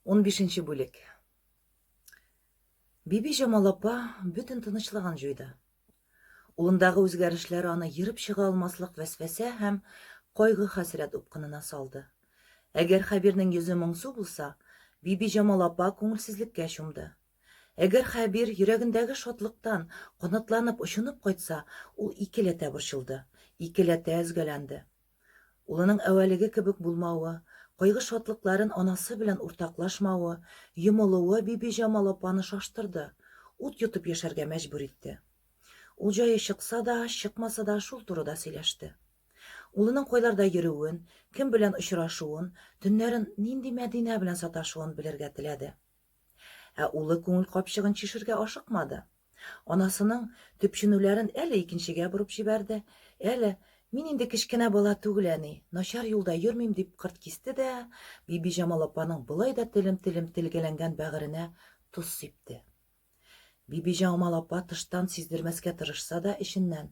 Унбишенче бүлек. Биби Җамал апа бөтен тынычлыгын җуйды. Улындагы үзгәрешләр аны ерып чыга алмаслык вәсвәсә һәм кайгы-хәсрәт упкынына салды. Әгәр Хәбирнең йөзе моңсу булса, Биби Җамал апа күңелсезлеккә чумды. Әгәр Хәбир йөрәгендәге шатлыктан канатланып очынып кайтса, ул икеләтә борчылды, икеләтә өзгәләнде. Улының әвәлеге кебек булмавы, кайгы-шатлыкларын анасы белән уртаклашмавы, йомылуы Бибиҗамал апаны шаштырды, ут йотып яшәргә мәҗбүр итте. Ул җае чыкса да, чыкмаса да шул турыда сөйләште. Улының кайларда йөрүен, кем белән очрашуын, төннәрен нинди Мәдинә белән саташуын белергә теләде. Ә улы күңел капчыгын чишергә ашыкмады. Анасының төпченүләрен әле икенчегә борып җибәрде, әле, Мин инде кечкенә бала түгел, әни, начар юлда йөрмим, дип кырт кисте дә, Бибиҗамал апаның болай да телем-телем телгәләнгән бәгыренә тоз сипте. Бибиҗамал апа тыштан сиздермәскә тырышса да, эченнән.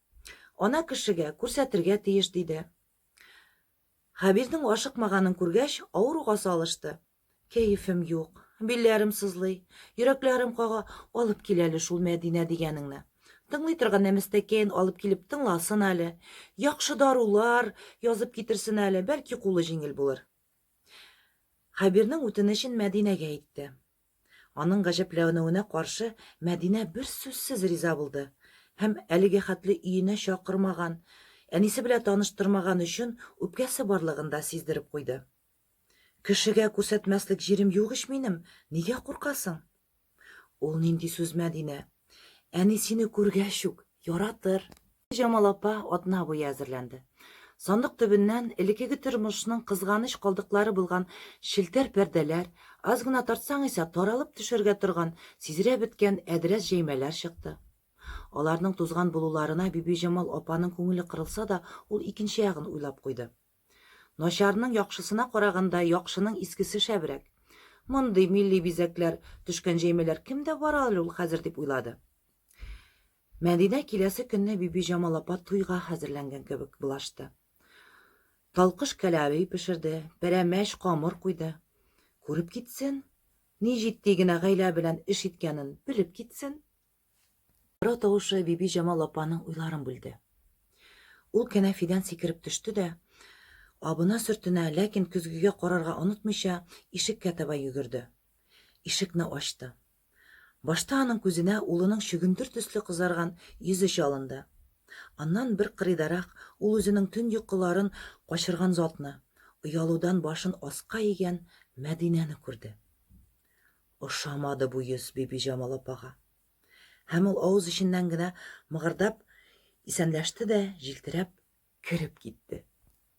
Ана кешегә күрсәтергә тиеш, диде. Хәбирнең ашыкмаганын күргәч, авыруга салышты. Кәефем юк, билләрем сызлый, йөрәкләрем кага, алып кил әле шул Мәдинә дигәнеңне. Тыңлый торган нәмәстәкәен алып килеп тыңласын әле, яхшы дарулар язып китерсен әле, бәлки кулы җиңел булыр. Хәбирнең үтенечен Мәдинәгә әйтте. Аның гаҗәпләнүенә каршы Мәдинә берсүзсез риза булды һәм әлеге хәтле өенә чакырмаган, әнисе белә таныштырмаган өчен үпкәсе барлыгын да сиздереп куйды. Кешегә күрсәтмәслек җирем юк ич минем, нигә куркасың? Ул нинди сүз, Мәдинә? Әни сине күргәч үк яратыр. Җамал апа атна буе әзерләнде. Сандык төбеннән элекеге тормышның кызганыч калдыклары булган челтәр пәрдәләр, аз гына тартсаң исә таралып төшәргә торган, сизрә беткән әдрәс җәймәләр чыкты. Аларның тузган булуларына Бибиҗамал апаның күңеле кырылса да, ул икенче ягын уйлап куйды. Начарның яхшысына караганда, яхшының искесе шәбрәк. Мондый милли бизәкләр төшкән җәймәләр кемдә бар әле ул хәзер, дип уйлады. Мәдинә киләсе көнне Бибиҗамал апа туйга хәзерләнгән кебек булашты. Талкыш кәләви пешерде, пәрәмәч камыр куйды. Күреп китсен, ни җитди генә гаилә белән эш иткәнен белеп китсен. Кара тавышы Бибиҗамал апаның уйларын бүлде. Ул кәнәфидән сикереп төште дә, абына сөртенә, ләкин көзгегә карарга онытмыйча, ишеккә таба йөгерде. Ишекне ачты. Башта аның күзенә улының чөгендер төсле кызарган йөзе чалынды. Аннан бер кырыйдарак ул үзенең төн йокыларын качырган затны, оялудан башын аска игән Мәдинәне күрде. Ошамады бу йөз Бибиҗамал апага. Һәм ул авыз эченнән генә мыгырдап исәнләште дә, җилтерәп кереп китте.